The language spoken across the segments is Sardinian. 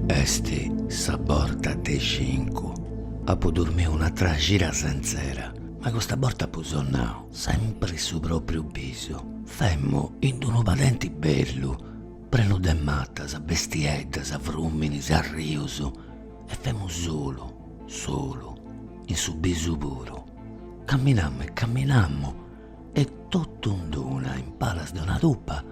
Est sa borta de cincu. Apu dormiu un'atera cira sentzera, ma custa borta apu sonnau sempri su propriu bisu, femmu in d'unu padenti bellu, prenu de matas, bestieddas, fruminis, arrius e femmu solu. Solu, in su bisu puru. Camminamu e camminamu e totu in d'una, in palas de una tupa,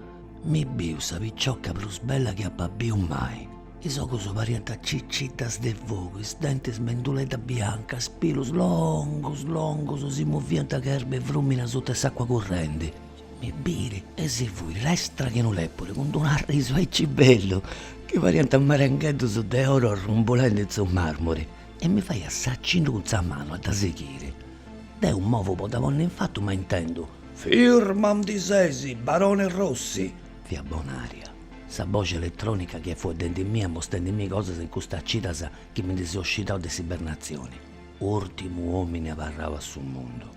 mi biu sa picioca prus bella chi apa biu mai. Is ogus parianta ciciddas de fogu, is dentis menduleddas biancas, is pilus longus longus si movianta che erba 'e frumini suta 'e s'acqua currendi. mi birit e si fuit lestra che unu lepuri cun d'unu arrisu aici bellu chi pariant marengheddus de oro arrumbulendi in su marmuri e mi fait s'acinnu cun sa manu a dda sighiri. Deu movu po dda ponni in fatu ma intendu, Firmu andi sesi, barone Rossi! Fiat Bonaria. Sa boxi eletronica chi fut dendimia, mostendimi cosas in custas cidas chi mi ndi seu scidau de s'ibernatzioni, urtimu omini abarrau a su mundu.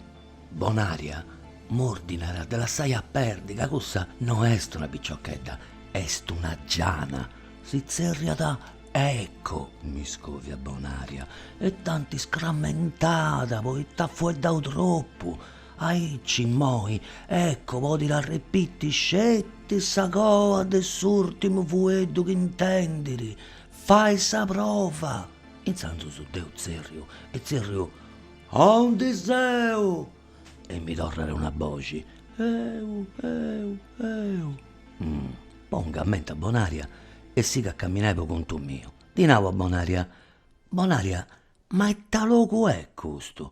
Bonaria, M'ordinat de lassai a perdi ca cussa no est una piciochedda, est una giana, si tzerriat Eco! mi scoviat Bonaria dd'anti iscrammentada poita at fueddau tropu, aici immoi Eco podit arripiti sceti sa coa de s'urtimu fueddu chi intendit, fai sa prova! Intzandus deu tzerriu e tzerriu Aundi seu! E mi torrat una boxi, Eu! Eu! Eu! Pongu a menti a Bonaria e sigu a camminai po contu miu. Ddi nau a Bonaria, Bonaria, ma ita logu est custu?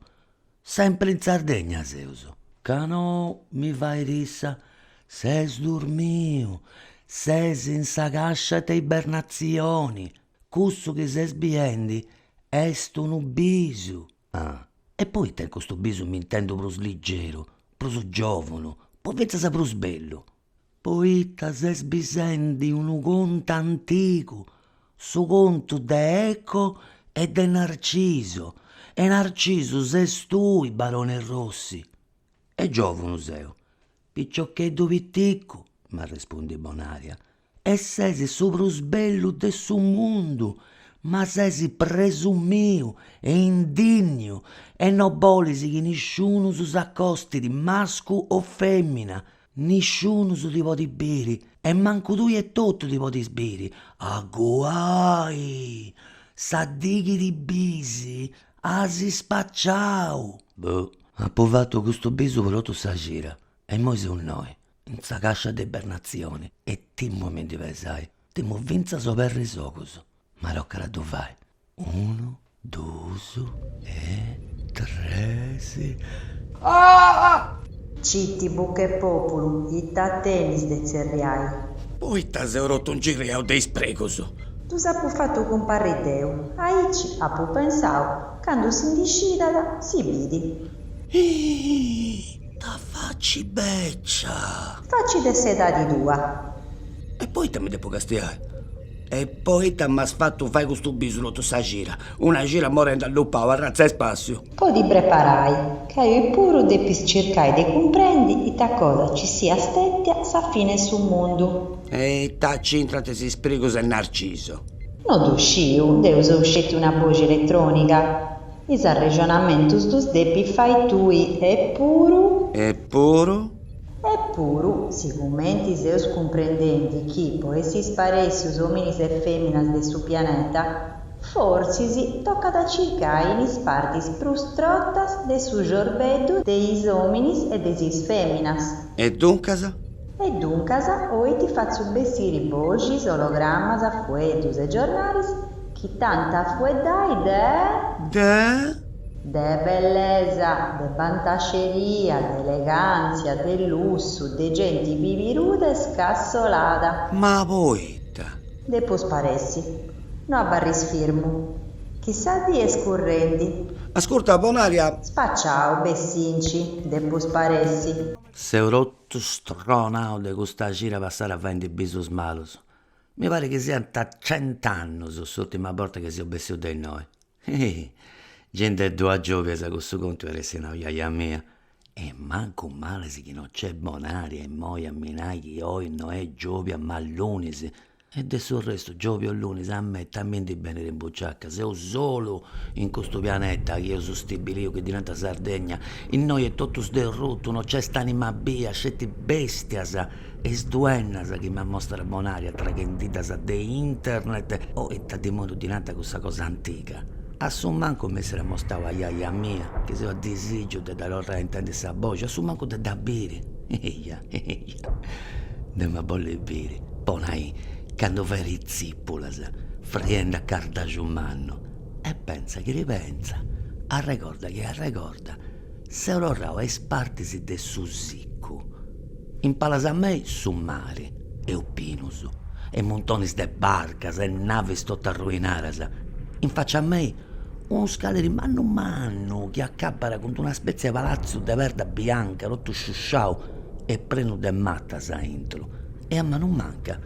Sempri in Sardegna seus? Ca nou, mi fait issa, ses durmiu, ses in sa cascia de ibernatzioni. Cussu chi ses biendi est unu bisu. Ah, e poita in custu bisu m'intendu prus ligeru, prus giòvunu, po fintzas prus bellu? Poita ses bisendi unu contu antigu, su contu de Eco e de Narciso, e Narcisu ses tui, barone Rossi. E giòvunu seu, piciocheddu piticcu, m'arrespundit Bonaria. E ses su prus bellu de su mundu, ma ses presumiu e indinniu e no bolis chi nisciunus s'acostit mascu o femina, nisciunus ti podit biri e mancu tui etotu ti podis biri, aguai! Sa dì chi ti bis as spaciau! Boh, apu fatu custu bisu po totu sa cira e immoi seu innoi, in sa cascia de ibernazioni e timu a mi ndi pesai timu finzas oberri is ogus ma tocat a ddu fai unu dus e tres ah! Citi buca 'e populu ita tenis de tzerriai. Poita seu rotu ingirriau de is sprigus. Ddus apu fatu cumparri deu. Aici apu pensau, candu si ndi scidat, si bidi. Iih! Ta faci beccia. Faci de s'edadi tua. E poita mi depu castiai? E poita m'as fatu fai custu bisu totu sa cira? Una cira morendi allupau arratza 'e spàssiu. Po ti preparai, ca oi puru depis circai de cumprendi ita cosa ci siat stètia sa fini 'e su mundu. E ita c'intrant is isprigus 'e Narciso? No ddu sciu, deu seu sceti una boxi eletròniga. Is arrexonamentus ddus depis fai tui, epuru. Epuru. Epuru, sigumenti seus cumprendendi chi po essi sparèssius òminis e fèminas de su pianeta, forsis tocat a circai in is partis prus trotas de su ciorbeddu de is òminis e de is fèminas. E duncas? E duncas oi ti fatzu bessiri boxis, ologramas, fueddus e giornalis chi t'ant a fueddai de. De. De bellesa, de bantaxeria, de elegàntzia, de lussu, de genti pibiruda e scassolada. Ma poita. Depu sparessi. No abarris firmu. Chi sa dì est currendi. Ascurta, Bonaria. Spaciau, bessinci, depu sparessi. Seu rot Stronau de custa cira passada faendi bisus malus. Mi parit chi siant cent'annus s'ùrtima borta chi seu bessiu de innoi. Ih! Gei nde ddu at giòbias a cussu contu iat essi nau jaja mia. E mancu males chi no nc'est Bonaria imoi a mi nai chi oi no est giòbia ma lunis. E de su restu, giòbia o lunis, a mei ta mi ndi benit in buciaca, seu solu in custu pianeta chi eus stabiliu chi ddi nant Sardegna, innoi est totu sderrutu, no nc'est anima bia, sceti bèstias e is duennas chi m'amostrat Bonaria traghendiddas de internet, o ita dimoniu ddi nant cussa cosa antiga, a su mancu m'essit amostau a jaja mia, chi seu a disìgiu de dda torrai a intendi sa boxi, a su mancu de dda biri. Eia! dd'em'a bolli biri po nai candu fait is tzìpulas friendi a cardaxu mannu e pentza chi ripentza arregorda chi arregorda seu torrau a is partis de su sicu in palas a mei su mari e opinus e muntonis de barcas e navis totu arruinadas in facia a mei Unu scaleri mannu mannu chi acabbat cun d'una spètzia de palatzu de perda bianca totu sciusciau e prenu de matas a intro e a manu manca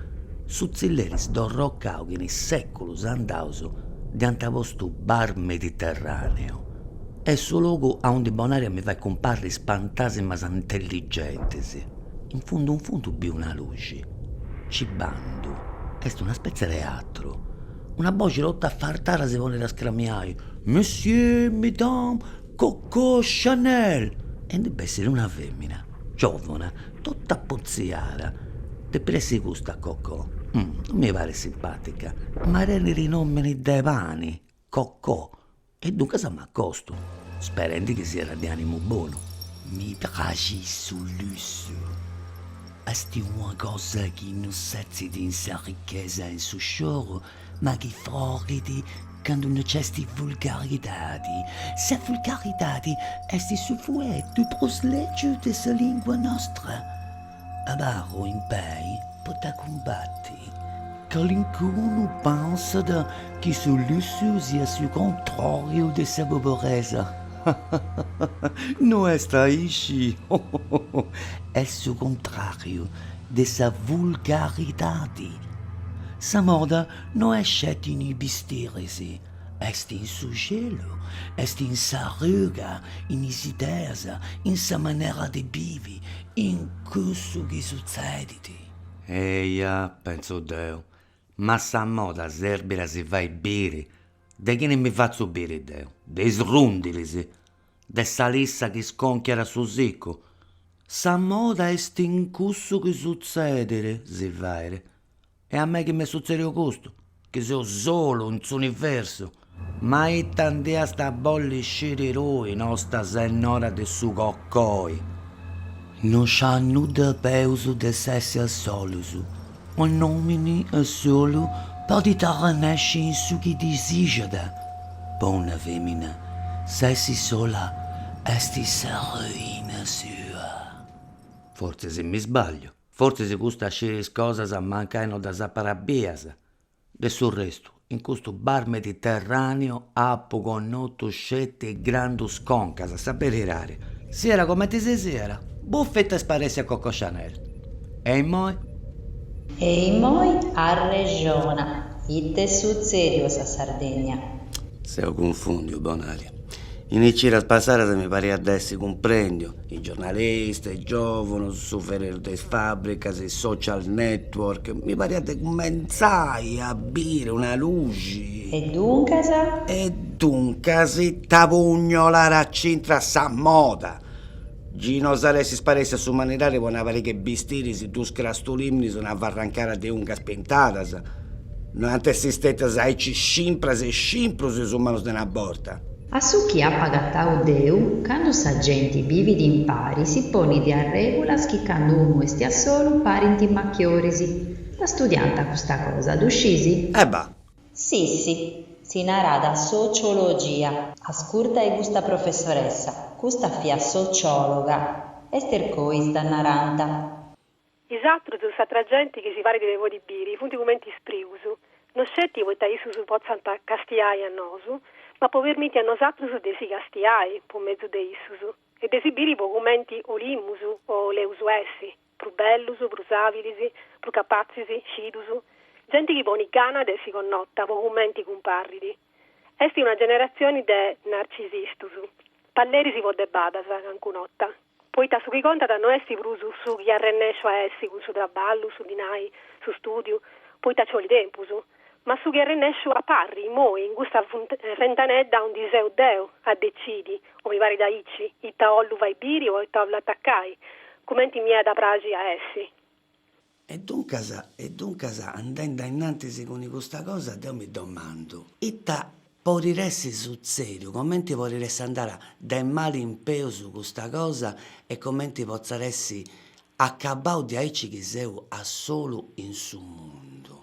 su tzilleri sdorrocau chi in sèculus andaus dd'iant postu Bar Mediterraneo. Est su logu aundi Bonaria mi fait cumparri is pantasimas intelligentis. In fundu in fundu biu una luxi. Ci bandu. Est una spètzia de teatru. Una boxi totu affartada si ponit a scramiai, Monsieur, Mesdames, Coco Chanel! E ndi bessit una femina giovuna, totu apotziada, depit essi custa Coco, no mi parit simpatica, ma tenit nomini de pani, Coco E duncas m'acostu, sperendi chi siat de animu bonu. Mi praxit su lussu, est una cosa chi no setzit in sa richesa e in su scioru, ma chi frorit candu no nc'est vulgaridadi. Sa vulgaridadi est su fueddu prus lègiu de sa lìngua nostra. Abarru in pei po dda cumbati. Calincunu pensat chi su lussu siat su contràriu de sa poboresa. No est aici. Est su contràriu de sa vulgaridadi. Sa moda no est sceti in is bistiris. Est in su celu, est in sa ruga, in is ideas, in sa manera de bivi, in cussu chi sutzedit. Eia, pentzu deu, ma sa moda serbit a si fai biri, de chini mi fatzu biri deu, de is rundilis, de sa lissa chi sconchiat a su sicu? Sa moda est in cussu chi sutzedit, si fait. E a mei chi m'est sutzèdiu custu, chi seu solu in s'universu? Ma ita nd'iast a bolli sciri tui, nosta sennora de su cocoi? No ci at nudda peus de s'essi a solus, un'omini a solu podit arrennesci in su chi disixat, po una femina, s'essi sola est sa ruina sua. Fortzis m'isbagliu. Fortzis custa scirit cosas mancai no ddas apat bias. De su restu, in custu bar mediterràneu apu connotu sceti grandus concas, sa beridadi, siat comenti si siat, bùfiti, sparèssia Coco Chanel. E immoi? E immoi arrexona, ite est sutzèdiu a sa Sardegna? Seu cunfùndiu, Bonaria. In is cidas passadas mi pariat de essi cumprendiu, is giornalistas, is giovunus, su ferreru de is fabricas, is social network, mi pariat de cumentzai a biri una luxi. E duncas? E duncas ita pugnolat a c'intrat sa moda? Gei no s'at essi sparèssia s'umanidadi po una pariga 'e bistiris duus crastulìmminis una farrancada de ungas pintadas no ant essi stètias aici scimpras e scimprus is umanus de una borta. A su chi apu agatau deu, candu sa genti bivit impari si ponit arrègulas chi candu unu est a solu parint machioris. Dda studiànt custa cosa, ddu scisi? E bah, Sissi, si narat sociologia. Ascurtai custa professoressa, custa fiat sociologa. Ester Cois dda narant. Is atrus, s'atra genti chi si parit de podi biri, funt cumenti isprigus, no sceti poita issus potzant castiai a nosu, ma po permiti a nosatrus de si castiai po mezu de issus e de si biri po cumenti 'olimus o 'oleus essi. prus bellus, prus àbilis, prus capatzis, scidus, genti chi ponit gana de essi connota po cumenti cumparrit. Est una generatzioni de narcisistus, palleris po debadas, cancun'ota, poita su chi contat no est prus su chi arrennèsciu a essi cun su traballu, su dinai, su stùdiu, poita nci bolit tempus. Ma su chi arrennesciu a parri immoi in custa fentanedda aundi seu deu a decidi, o mi parit aici, ita 'ollu fai biri o ita 'ollu atacai, cumenti mi at a praxi a essi. E duncas, e duncas, andendi a innantis cun custa cosa, deu mi domandu, ita porit essi sutzediu, comenti porit essi andada de mali in peus custa cosa e comenti potzat essi acabau diaici chi seu a solu in su mundu.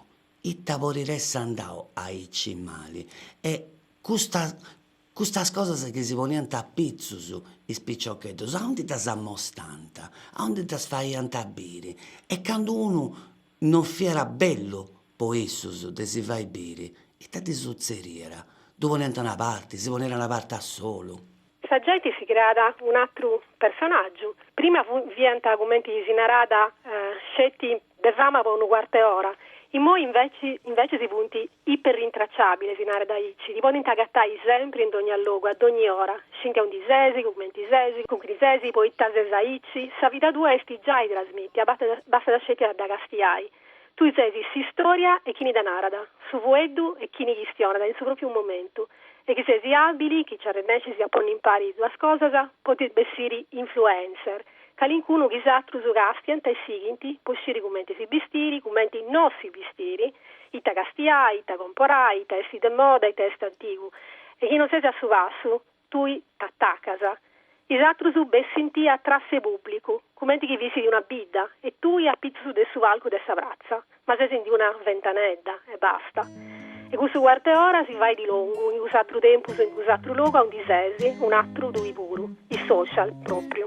Ita podit essi andadu aici mali? E custas cosas chi si poniant a pitzus is piciocheddus, aundi ddas amostant? Aundi ddas faiant biri? E candu unu non fiat bellu po issus de si fai biri, ita ddi sutzeriat? Ddu poniant a una parti, si poniat a una parti a solu? Sa genti si creat un'àteru personàgiu, prima fiant cumenti si narat sceti de fama po unu cuarte ora, immoi invècias funt iperrintracciàbiles, si narat aici, ti podint agatai sempri in dogna logu, a dogni ora, scint a undi ses, cumenti ses, cun chini ses, poita ses aici, sa vida tua est giai trasmìtia, bastat sceti a dda castiai. Tui ses s'istòria 'e chini dda narat, su fueddu 'e chini chistionat in su pròpiu momentu, e chi ses àbili, chi nci arrennescis a ponni impari is duas cosas, podis bessiri influencer, calincunu chi is àterus càstiant e sighint po sciri cumenti si bistiri, cumenti no si bistiri, ita castiai, ita comporai, ita est de moda, ita est antigu, e chi no ses a su passu, Tui t'atacas. Is atrus bessint a èssi pubblicu, cumenti chi fissit una bidda, e tui a pitzus de su palcu de sa pratza, ma ses in una ventanedda, e basta. E cussu cuart'e ora si fait longu, in cuss'atru tempus e in cuss'atru logu aundi ses, un'atru tui puru. Is social, propriu.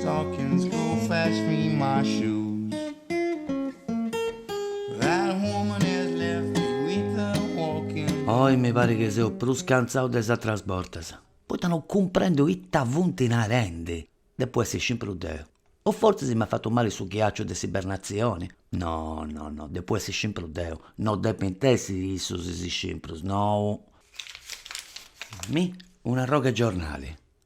Stockings go fetch me my shoes That woman has left me with her walking Oi mi parit chi seu prus cantzau de is ateras bortas, poita no cumprendu ita funt narendi, depu essi scimpru deu, o fortzis m'at fatu mali su ghiaciu de s'ibernatzioni, no, no, no, depu essi scimpru deu, no depint essi issus is scimprus, nou. Mi un'arrogu 'e giornali.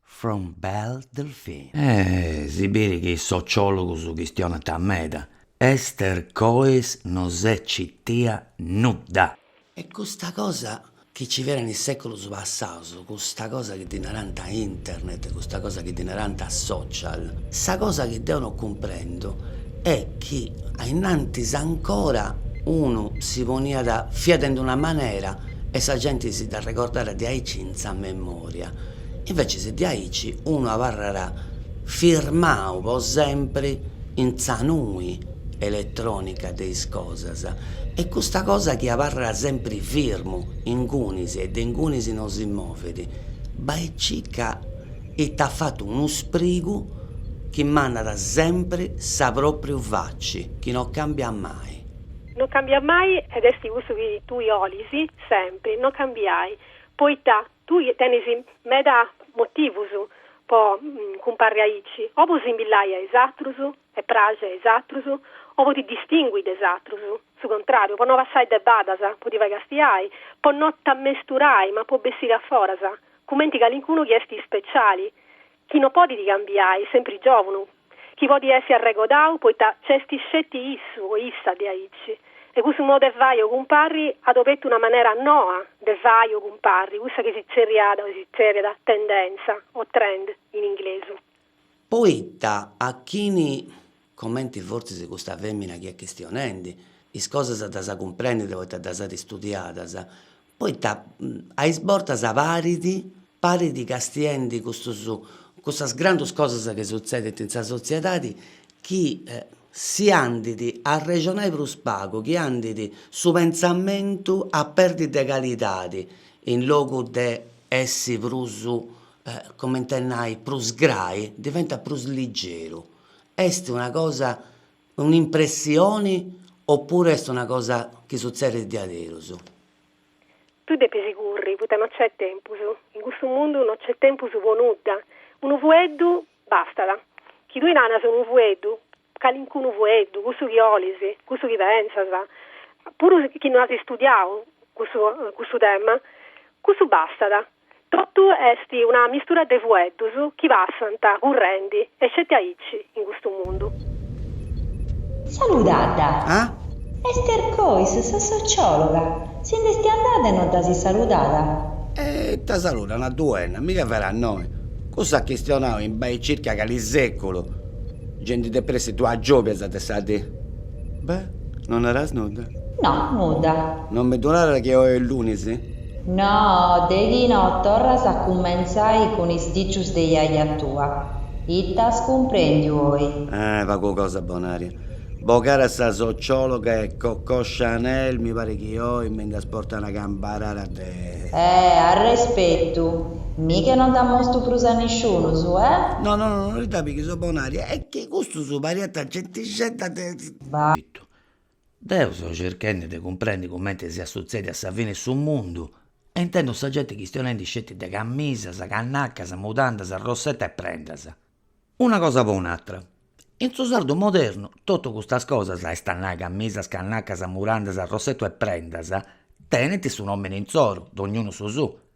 from Belle Delphine. Si bit chi is sociologus chistionant meda, Esther Coes no s'est citia nudda. E custa cosa chi nci fiat in is seculus passaus, custa cosa chi ddi narant internet, custa cosa chi ddi narant social, sa cosa chi deu no cumprendu est chi ainnantis ancora unu si poniat, fiat in d'una manera e sa genti si dda arregordàt diaici in sa memoria. Invece diaici unu abarrat firmau po sempri in sa nui elettronica de is cosas e custa cosa chi abarrat sempri firmu ingunis e de ingunis non si movet, bai e circa iat fatu unu sprigu chi mandat sempri sa propriu faci chi non cambiat mai. Non cambiat mai ed esti cussu chi tui 'olis sempri, non cambiai, poita Tui tenis meda motivus po cumparri aici, o po simbillai a is atrus e praxi a is atrus, o po ti distingui de is atrus, su contrariu, po no passai de badas, po ti fai castiai, po no t'ammesturai, ma po bessiri aforas, cumenti calincunu chi est speciali, Chi no podit cambiai, sempri giòvunu, chi podit essi arregodau poita nc'esti sceti issu o issa diaici, e cussu modu 'e fai o cumparri at obertu una manera noa de fai o cumparri, cussa chi si tzerriada o si tzerriat tendenza o trend in inglesu. Poita a chini, comenti fortzis custa fèmina chi est chistionendi, is cosas ddas cumprendit poita ddas at istudiadas, poita a is bortas parit, parit castiendi custus custas grandus cosas chi sutzedint in sa sotziedadi chi si andit a arrexonai prus pagu, chi andit su pentzamentu a perdi de calidadi in logu de essi prus comente nai prus grai, diventat prus ligeru, est una cosa un'impressioni oppuru est una cosa chi sutzedit diaderus? Tui depis curri, poita no nc'est tempus, in custu mundu no nc'est tempus po nudda, unu fueddu bastat, chi tui naras unu fueddu, calincunu fueddu, cussu chi 'olis, cussu chi pensas, puru chi no as istudiau cussu tema, cussu bastat. Totu est una mistura de fueddus chi passant currendi e sceti aici in custu mundu. Saludadda! Ah? Ester Cois, sa sociologa! Si nd'esti andada e no dd'asi saludada? E ita saludu una duenna? Mi ch'est vera a noe. Cussa at chistionau in bai circa cali seculu. Genti de pressi a dua' giòbias de sa dì. Beh, no naras nudda? No, nudda. Non mi ddu naras chi oe est lunis? No, de chi no torras a cummentzai cun is dicius de jaja tua. Ita as cumprendiu oi? Ah, pagu cosa Bonària. Bogada sa sociologa e Coco Chanel mi parit chi oi mi nd'as portau una cambarada de. Eh, arrespetu. Mi che non dda mostru prus a nisciunus, eh? No, no, no, no ti dda pighis, Bonària, est chi custus pariant gentixedda de. Ba. Deu seu circhendi de cumprendi cumenti si at a sutzedi sa fini 'e su mundu e intendu sa genti chistionendi sceti de cammisas, cannacas, mudandas, rossetta e prendas. Una cosa po un'atra, in su sardu modernu totu custas cosas, est a nai cammisas, cannacas, mudandas, rossettu e prendas, tenint su nomini insoru, dognunu su suu,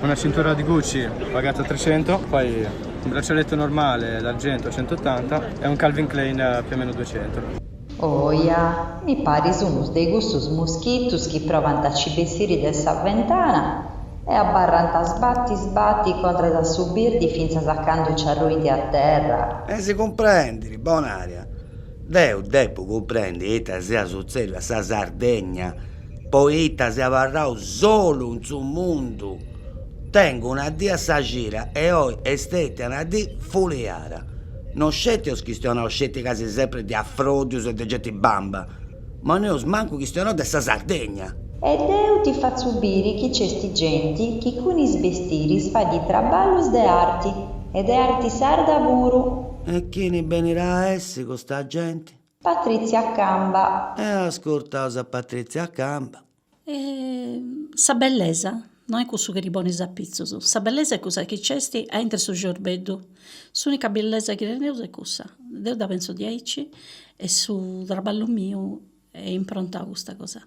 Una cintura di Gucci pagata a trecento, poi un braccialetto normale d'argento a centottanta e un Calvin Klein più o meno duecento. Oja, mi paris unu de cussus moschitus chi provant a ci bessiri de sa ventana e abarrant a sbatti sbatti contras a su birdi fintzas a candu ci arruint a terra. E si cumprendit, Bonària. Deu depu cumprendi ita si at a sutzedi a sa Sardegna. Poita si abarru solu in su mundu tengu una dì a sa cida e oi est stètia una dì fuliada. No sceti eus chistionau sceti casi sempri de afròdius e de genti bamba, ma no eus mancu chistionau de sa Sardegna. E deu ti fatzu biri chi nc'est genti chi cun is bestiris fait traballus de arti, e de arti sarda puru. E chini benirà a essi custa genti? Patrizia Camba. E ascurtaus a Patrizia Camba. E sa bellesa no est cussu chi ti ponis a pitzus, sa bellesa est cussa chi nc'est aintru 'e su ciorbeddu, s'unica bellesa chi teneus est cussa, deu dda penso diaici e su traballu miu est improntau a custa cosa.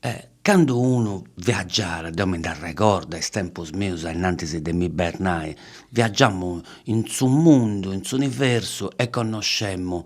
E cando unu viàggiat, deo mi nd'arregordo a is tempus mius ainnantis de m'ibernai, viaggiamu in su mundu, in s'universu e connoscemu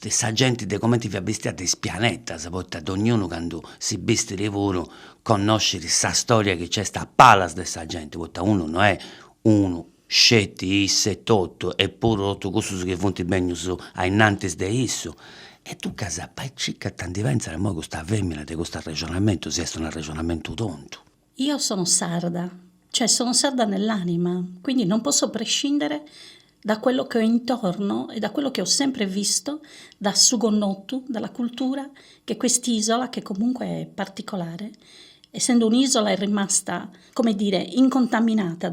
sa genti de cumenti fiat bistia de is pianetas, poita dognunu candu si bistit puru connoscit sa storia chi nc'est a palas de sa genti, poita unu no est unu sceti issu etotu est puru totu cussus chi funt bennius ainnantis de issu, e duncas bai e circa ita ndi pentzat imoi custa femina de custu arrexonamentu, si est unu arrexonamentu tontu. Io sono sarda, cioè sono sarda nell'anima, quindi non posso prescindere da quello che ho intorno e da quello che ho sempre visto da su connotu, dalla cultura che quest'isola, che comunque è particolare, essendo un'isola è rimasta, come dire, incontaminata.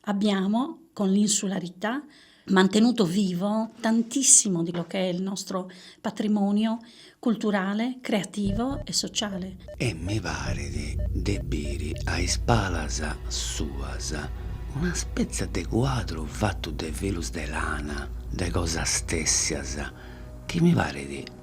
Abbiamo, con l'insularità, mantenuto vivo tantissimo quello che è il nostro patrimonio culturale, creativo e sociale. E mi paret de biri a is palas suas una spetza de cuadru fatu de filus de lana, de cosas tèssias, chi mi paret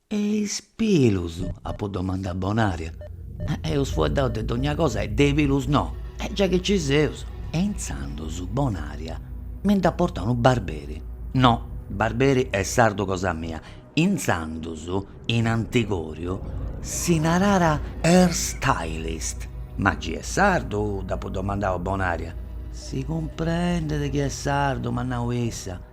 E is pilus? apu domandau a Bonària. Eus fueddau de dogna cosa e de is pilus no, giai chi nci seus. E intzandus Bonària mi nd'at portau unu barberi, no, barberi est sardu cosa mia, intzandus in Antigòriu si narat hair stylist. Ma nci est sardu? dd'apu domandau a Bonària. Si cumprendet chi est sardu, m'at nau issa.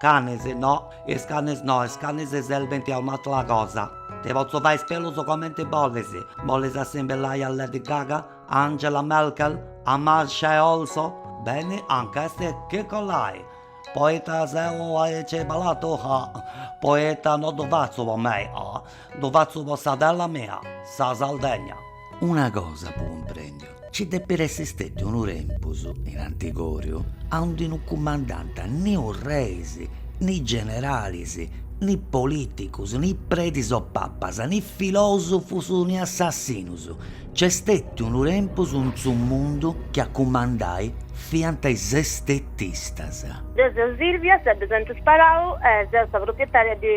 Canis, no, is canis no, is canis serbint a un'atera cosa. Ti potzu fai is pilus comenti bolis, bolis assimbillai a Lady Gaga, a Angela Merkel, a Masha e Orso? Beni, anca est chi collai! Poita seu aici balatu, ah! Poita no ddu fatzu po mei, ah! Ddu fatzu po sa terra mia, sa Sardegna. Una cosa apu cumprèndiu, ci depit essi stetiu unu tempus, in antigoriu, aundi no cumandànt ni reis, ni generalis, ni politicus, ni predis o papas, ni filosufus, ni assassinus, Nc'est stetu unu tempus in su mundu chi a cumandai fiant is estetistas. Deu seu Silvia, sa de Santu Sparau e seu sa proprietària de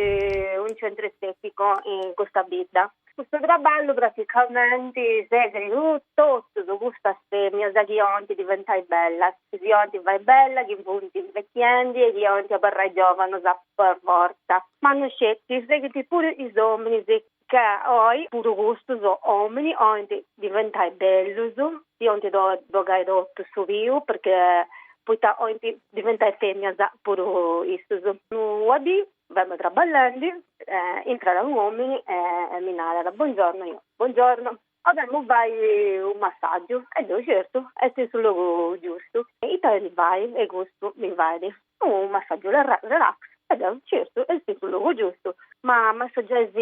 unu centru estèticu in custa bidda. Custu traballu praticamenti seghit totus custas fèminas chi 'olint diventai bellas, si 'olint fai bellas, chi funt invechiendi e chi 'olint abarrai giòvanas per fortza. Ma no sceti, seghit puru is òminis Ca oi puru custus òminis oint diventai bellus, si oint bogai totu su piu, perchè poita oint diventai feminas puru issus. Una dì femu traballendi e intrat unu omini e mi narat, Buongiorno, io, Buongiorno. 'Olemu fai u massaggiu e deu certu est in su logu giustu. Ita 'olis fai e custu mi fait u massaggiu relax e deu certu est in su logu giustu. Ma massaggiais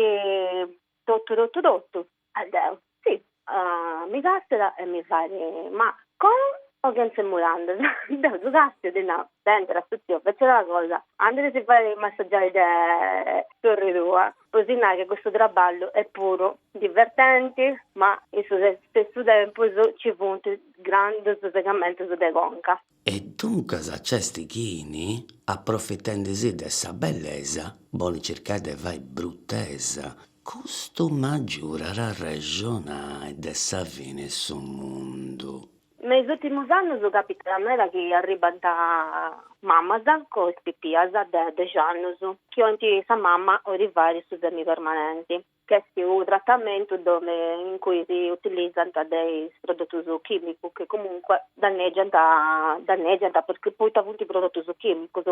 totu totu totu? E deu, si. Mi càstiat e mi fait, ma cun o chentze mudandas? Deu ddu castio e ddi nau, sentat su tziu, fetzat una cosa, andit a si fai massaggiai de sorri tua. po si nai chi custu traballu est puru divertenti, ma in su stessu tempus nci funt grandos segamentos de conca. E duncas nc'est chini, aprofitendi si de sa bellesa, bolit circai de fai brutesa, custu m'agiudat a arrexonai de sa fini 'e su mundu. Me is ùltimus annus càpitat meda chi arribant mamas cun is pipias de dexi annus chi 'olint sa mama 'olit fai su semipermanenti, chi est unu tratamentu dove in cui si utilizant de is prodotus chìmicus chi comunque dannègiant dannègiant perchè poita funt prodotus chìmicus.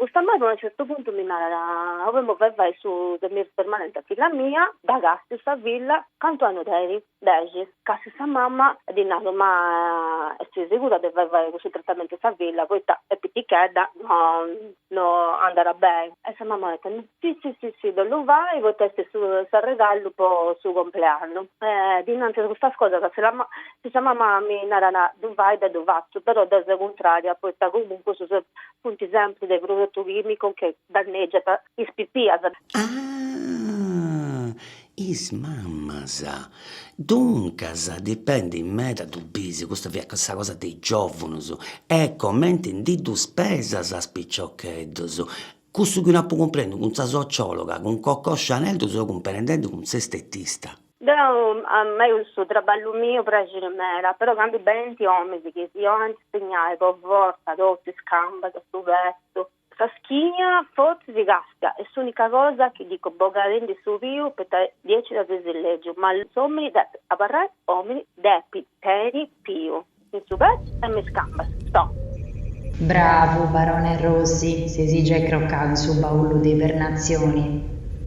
Custa mama a unu certu puntu mi narat, 'olemu fai fai su semipermanenti a filla mia, dda castiu sa filla, cantu annus tenit? Dexi, càstiu sa mama ddi naru ma est segura de fai fai cussu tratamentu a sa filla poita est pitichedda no andat beni e sa mama at tentu, si si si si ddu 'ollu fai poita est s'arregallu po su compleannu e dinantis a custas cosas si la si sa mama mi narat ddu fai deu ddu fatzu però deu seu cuntraria poita comunque su se funt sempri de prodotus chìmicus chi dannègiant is pipias. Ah! is mamas, duncas dipendit meda ddu bis, custa fiat sa cosa de is giòvunus, e comenti ndi ddus pesas a is piciocheddus, cussu chi no apu cumprendiu cun sa sociòloga, cun Coco Chanel ddu seu cumprendendi cun s'estetista. Deu a mei cussu traballu mi praxit meda, però candu benint omis chi si 'olint spinniai po fortza totu is cambas, su petus, Sa schina fortzis si càstia, est s'ùnica cosa chi dico bogadindi su piu poita diaici dda ses lègiu, ma s'òmini depit abarrai òmini, depit teniri piu in su petzu e in is cambas. Stop. Bravu Barone Rossi, ses giai crocau in su baullu de ibernazioni.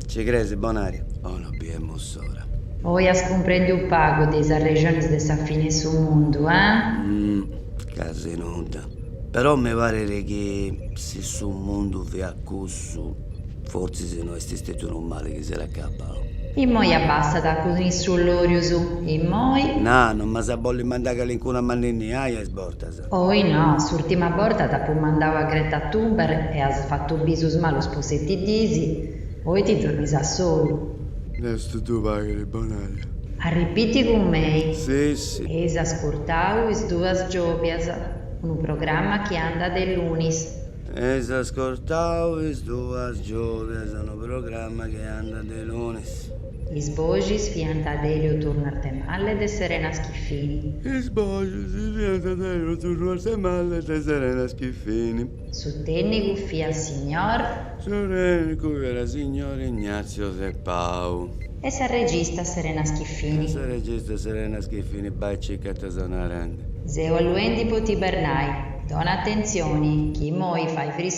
Ci creis Bonaria? Oh, no biemu s'ora. Oi as cumprendiu pagu de is arrexonis de sa fini 'e su mundu, eh? Casi nudda. Però mi paret chi si su mundu fiat cussu, fortzis no est stetiu unu mali chi s'est acabau. Immoi abbastat cun is sciollòrius, immoi. Na, no m'as a bolli mandai calincunu a m'anninniai a is bortas? Oi no, s'urtima borta t'apu mandau a Greta Thunberg e as fatu bisus malus po seti diis. Oi ti dromis a solu. Deus ti ddu paghet, Bonaria. Arripiti cun mei. Si, si. Eis ascurtau is duas giòbias, unu programma chi andat de lunis. Eis ascurtau is duas giòbias, unu programma chi andat de lunis. Is boxis fiant de Elio Turno Arthemalle e de Serena Schiffini. Is boxis fiant de Elio Turno Arthemalle e de Serena Schiffini. Su tècnicu fiat signor. Su tècnicu fiat signor Ignazio de Pau. E sa regista Serena Schiffini. E sa regista Serena Schiffini, bai cica ita ses narende. Seu alluendi po t'ibernai, dona atentzioni, chi immoi fait friscu.